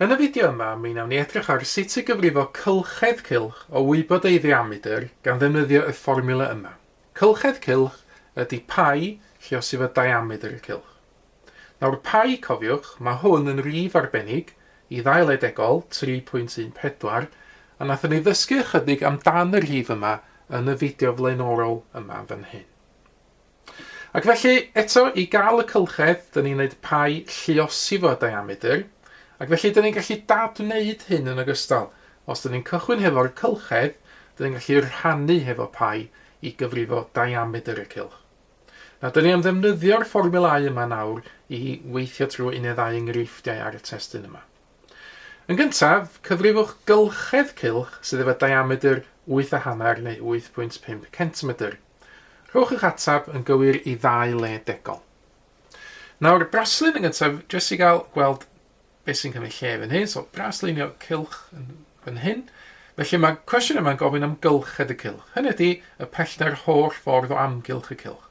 Yn y fideo yma, mi wnawn ni edrych ar sut i gyfrifo cylchedd cylch o wybod ei ddiamedr gan ddefnyddio y fformiwla yma. Cylchedd cylch ydy pai lle os yw y diamedr y cylch. Nawr pai, cofiwch, mae hwn yn rif arbennig, i ddail edegol, 3.14, a nathon ni ddysgu ychydig amdan y rhif yma yn y fideo flaenorol yma fan hyn. Ac felly, eto, i gael y cylchedd, dyn ni'n gwneud pau lluosi fo diamedr, ac felly dyn ni'n gallu dadwneud hyn yn ogystal. Os dyn ni'n cychwyn hefo'r cylchedd, dyn ni'n gallu rhannu hefo pau i gyfrifo diamedr y cylch. Nawr, dyn ni am ddefnyddio'r fformiwlau yma nawr i weithio trwy un neu ddau enghreifftiau ar y testun yma. Yn gyntaf, cyfrifwch gylchedd cylch sydd efo diamedr wyth a hanner neu 8.5 centimedr. Rhowch eich atab yn gywir i ddau le degol. Nawr, braslun yn gyntaf, jyst i gael gweld beth sy'n cymryd lle fan hyn. So, braslunio cylch yn fan hyn. Felly mae cwestiwn yma'n gofyn am gylched y cylch. Hynny ydy y pellter holl ffordd o amgylch y cylch.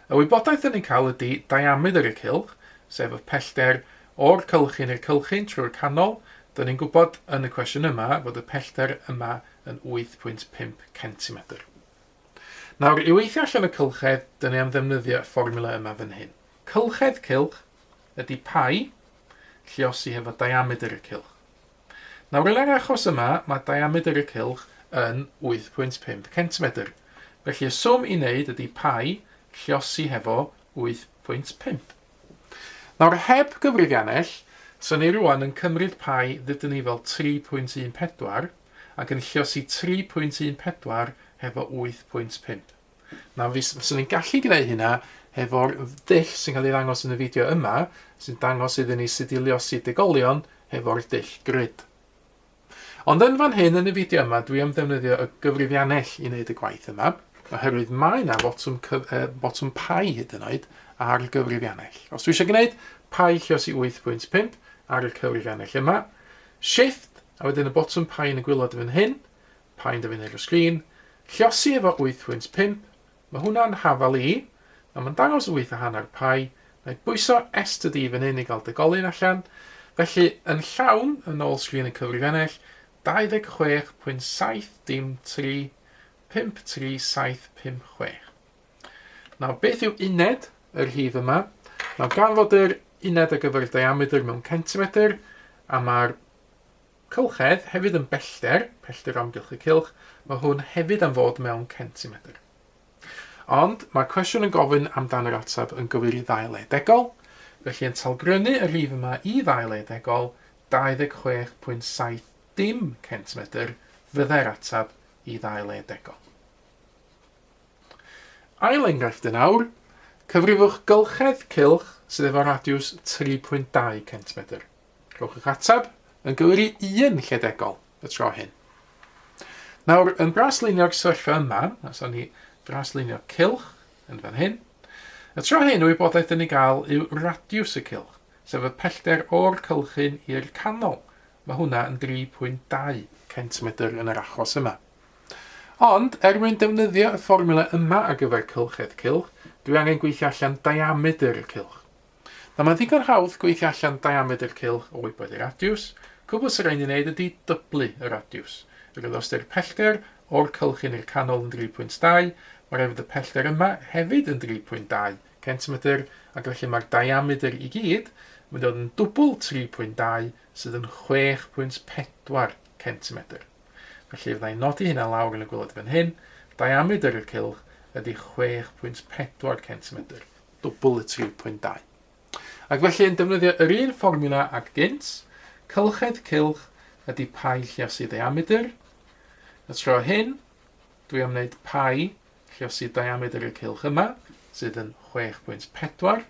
Y wybodaeth dyn ni'n cael ydy diamedr y cylch, sef y pellter o'r cylchyn i'r cylchyn trwy'r canol. Dyn ni'n gwybod yn y cwestiwn yma fod y pellter yma yn 8.5 cm. Nawr, i weithio allan y cylchedd, dyn ni am ddefnyddio y fformula yma fan hyn. Cylchedd cylch ydy pi lliosi hefo diamedr y cylch. Nawr, yn yr achos yma, mae diamedr y cylch yn 8.5 centimedr. Felly, y swm i wneud ydy pi lliosi hefo 8.5. Nawr, heb gyfrifiannell, so ni rwan yn cymryd pi ddydyn ni fel 3.14, ac yn lluosi 3.14 hefo 8.5. Nawr fys- fyswn i'n gallu gwneud hynna hefo'r dull sy'n cael ei ddangos yn y fideo yma, sy'n dangos iddyn ni sut i lluosi degolion hefo'r dull grid. Ond yn fan hyn yn y fideo yma, dwi am ddefnyddio y gyfrifiannell i wneud y gwaith yma, oherwydd mae yna botwm, cyf- uh, botwm pai hyd yn oed ar gyfrifiannell. Os dwi eisiau gwneud pai llios i 8.5 ar y cyfrifiannell yma, shift A wedyn y botwm pain y gwylod fan hyn, pain da fi'n neud o'r sgrin, llosi efo 8.5, ma hwnna'n hafal i, a ma'n dangos 8 a hanner pi, na'i bwyso estd i fan hyn i gael degolyn allan, felly yn llawn, yn ôl sgrin y cyfrifennell, 26.7 dim 3, 5 3 7 5 6. Nawr beth yw uned y rhif yma? Nawr gan fod yr uned ar gyfer y diameter mewn centimetr, a mae'r Cylchedd hefyd yn bellter, pellter o amgylch y cylch, mae hwn hefyd am fod mewn centimetr. Ond mae'r cwestiwn yn gofyn amdan yr ateb yn gywir i ddau le degol, felly yn talgrynnu y rhif yma i ddau le degol, 26.70 centimetr fyddai'r ateb i ddau le degol. Ail enghraifft yn awr, cyfrifwch gylchedd cylch sydd efo radiws 3.2 centimetr. Rhowch eich ateb yn gywir i un lledegol y tro hyn. Nawr, yn braslunio'r syrfa yma, os o'n ni braslunio cilch yn fan hyn, y tro hyn y wybodaeth dyn ni gael yw radiws y cilch, sef y pellter o'r cylchyn i'r canol. Mae hwnna yn 3.2 centimedr yn yr achos yma. Ond, er mwyn defnyddio y fformula yma ar gyfer cylchedd cilch, dwi angen gweithio allan diamedr y cilch. Nawr mae'n ddigon hawdd gweithio allan diamedr cylch o wybod y radiws, cwbl sy'n rhaid ni wneud ydy dyblu y radiws. Yr oedd ystyr pellter o'r cylch hyn i'r canol yn 3.2, mae'n rhaid fod y pellter yma hefyd yn 3.2 centimetr ac felly mae'r diamedr i gyd yn mynd i fod yn dwbl 3.2 sydd yn 6.4 centimetr. Felly fydda i'n nodi hynna lawr yn y gwylod fan hyn, diamedr y cylch ydy 6.4 centimetr. dwbl y 3.2. Ac felly yn defnyddio yr un fformiwla ag gynt, cylchedd cylch ydy pai lliosi ddiamedr, y tro hyn dwi am wneud pai lliosi diamedr y cylch yma, sydd yn 6.4,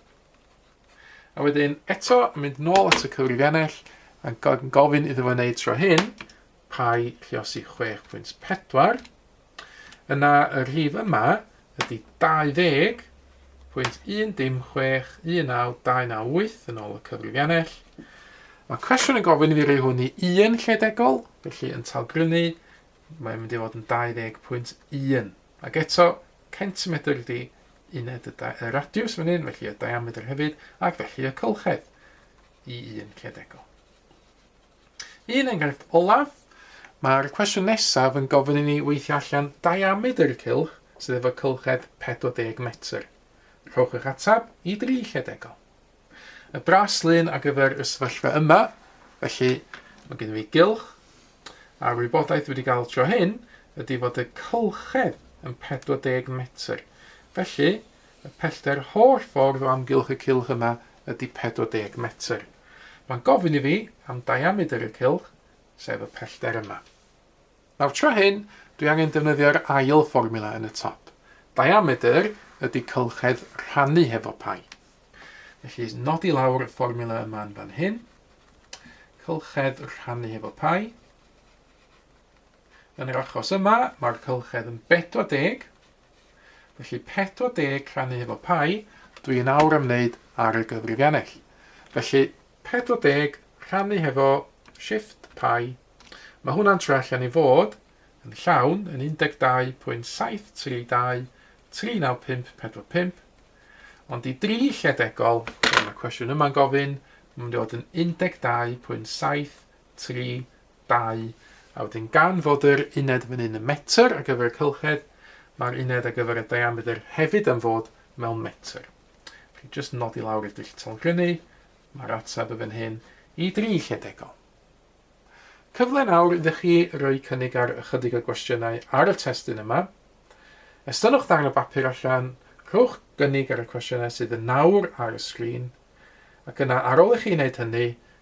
a wedyn eto yn mynd nôl at y cyfrifiannell a gofyn iddo fo wneud tro hyn, pai lliosi 6.4, Yna y rhif yma ydy 20.1061928 yn ôl y cyfrifiannell. Mae cwestiwn yn gofyn i fi roi hwn i un lle degol, felly yn talgrynu mae'n mynd i fod yn 20.1. Ac eto, centimetr ydy uned y, y radiws fan hyn, felly y diametr hefyd, ac felly y cylchedd i un lle degol. Un enghraifft olaf, mae'r cwestiwn nesaf yn gofyn i ni weithio allan diamedr y cylch sydd efo cylched 40 metr. Rhowch eich ateb i dri lle degol. Y bras lun ar gyfer y sefyllfa yma, felly mae gen i fi gylch, a'r wybodaeth wedi cael tro hyn ydy fod y cylchedd yn 40 metr. Felly, Y pellter holl ffordd o amgylch y cylch yma ydy 40 metr. Mae'n gofyn i fi am diamedr y cylch, sef y pellter yma. Nawr tro hyn, dwi angen defnyddio'r ail fformula yn y top. Diamedr ydy cylchedd rhannu hefo pai. Felly, nodi lawr y fformula yma yn fan hyn. Cylchedd rhannu hefo pai. Yn yr achos yma, mae'r cylchedd yn 40, Felly 40 rhannu hefo pi, dwi yn awr am wneud ar y gyfrifiannell. Felly 40 rhannu hefo shift pi, mae hwnna'n troi allan i fod yn llawn yn 12.732 39545, ond i dri lle degol, fel mae cwestiwn yma'n gofyn, mae'n mynd i fod yn 12.732 dau, a wedyn gan fod yr uned fan hyn yn metr ar gyfer y cylchedd, mae'r uned ar gyfer y diameter hefyd am fod mewn metr. Felly jyst nodi lawr i'r dull talgrynnu, mae'r ateb y fan hyn i dri lle degol. Cyfle nawr iddo chi roi cynnig ar ychydig o gwestiynau ar y testun yma. Estynnwch ddarn o bapur allan, rhowch gynnig ar y cwestiynau sydd yn nawr ar y sgrin, ac yna ar ôl i chi wneud hynny,